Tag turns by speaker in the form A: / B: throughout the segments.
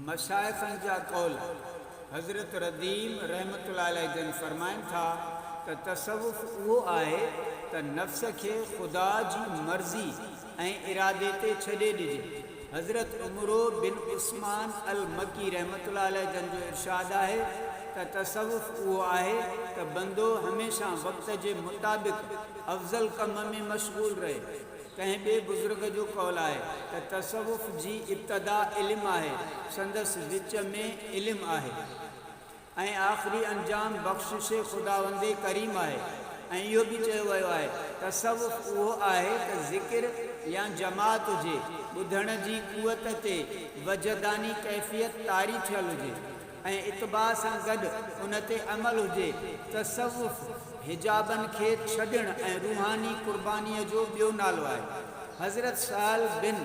A: مشائخن جا قول، حضرت رديم رحمة الله عليه جن فرمائن ٿا ته تصوف اهو آهي ته نفس کي خدا جي مرضي ۽ ارادي تي ڇڏي ڏجي. حضرت عمرو بن عثمان المڪي رحمة الله عليه جن جو ارشاد آهي ته تصوف اهو آهي ته بندو هميشه وقت جي مطابق افضل ڪم ۾ مشغول رهي. ڪنهن ٻئي بزرگ جو قول آهي ته تصوف جي ابتدا علم آهي، سندس وچ ۾ علم آهي ۽ آخري انجام بخشش خداوند ڪريم آهي ۽ اهو به چيو ويو آهي، تصوف اهو آهي ته ذڪر يا جماعت هجي، ٻڌڻ جي قوت تي وجداني ڪيفيت طاري ٿيل هجي. ۽ اتباع سان گڏ ان تي عمل هجي، تصوف حجابن کي ڇڏڻ ۽ روحاني قربانيء جو ٻيو نالو آهي. حضرت سهل بن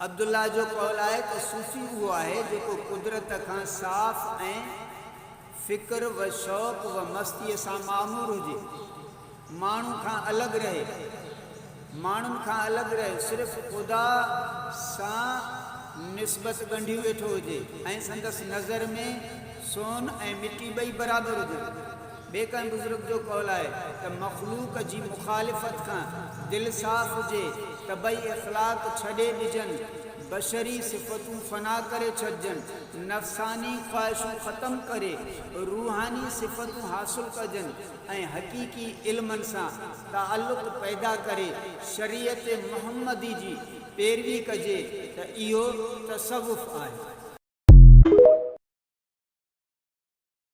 A: عبدالله جو قول آهي ته صوفي اهو آهي جيڪو قدرت کان صاف ۽ فڪر و شوق و مستيء سان معمور هجي، ماڻهو کان الڳ رهي، ماڻهن کان الڳ رهي، صرف خدا سان نسبت ڳنڍيون ويٺو هجي ۽ سندس نظر ۾ سون ۽ مٽي ٻئي برابر هجن. ٻئي ڪنهن بزرگ جو قول آهي ته مخلوق جي مخالفت کان دل صاف هجي، طبعي اخلاق ڇڏي ڏجن، بشري صفتون فنا ڪري ڇڏجن. نفساني خواهشون ختم ڪري روحاني صفتون حاصل ڪجن ۽ حقيقي علمن سان تعلق پيدا ڪري شريعت محمدي جي پيروي ڪجي ته اهو تصوف آهي.